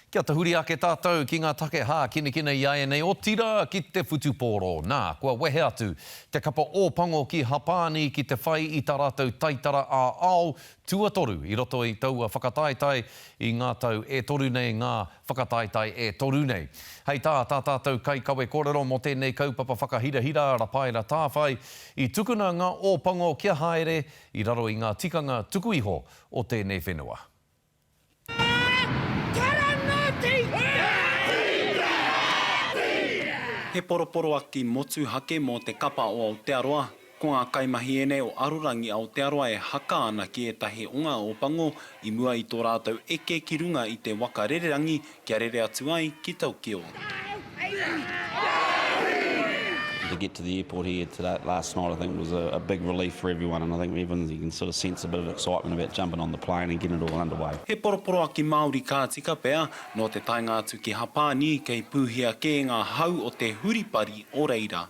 Kia tahuri ake tātou ki ngā take hākinakina i āianei, otirā ki te whutupōro. Nā, kua wehe atu te kapa Ōpango ki Hapāni ki te whai i tā rātou taitara ā-ao tuatoru i roto i taua whakataetae i ngā tau e toru nei, ngā whakataetae e toru nei. Hei tā tā tātou kaikawe kōrero mō tēnei kaupapa whakahirahira a Rapaera Tāwhai, i tukuna ngā Ōpango kia haere i raro i ngā tikanga tuku iho o tēnei whenua. He poroporoaki motuhake mō te kapa o Aotearoa, ko ngā kaimahi ēnei o Arorangi Aotearoa e haka ana ki ētahi o ngā Ōpango i mua i tō rātou eke ki runga i te waka rererangi Kia rere atu ai ki Tokyo. To get to the airport here today, last night, I think it was a, a big relief for everyone, and I think everyone you can sort of sense a bit of excitement about jumping on the plane and getting it all underway. He poroporoaki Māori ka tika pea, nō te taenga atu ki Hapāni, kei pūhia kē ngā hau o te huripari o reira.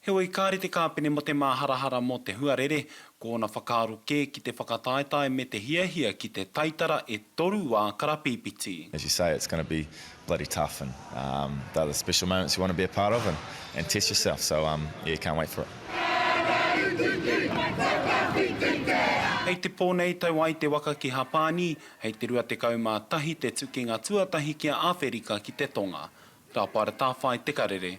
Heoi, kāre te kāpene mō te māharahara mō te huarere, ko ōna whakaaro kē ki te whakataetae me te hiahia ki te taitara e toru wā karapīpiti. As you say, it's going to be bloody tough and they're the special moments you want to be a part of and test yourself, so yeah, can't wait for it. Hei te pō nei tau ai te waka ki Hapāni, hei te 21 te tukinga tuatahi ki a Āwherika ki te Tonga. Tāpaeratawhai te karere.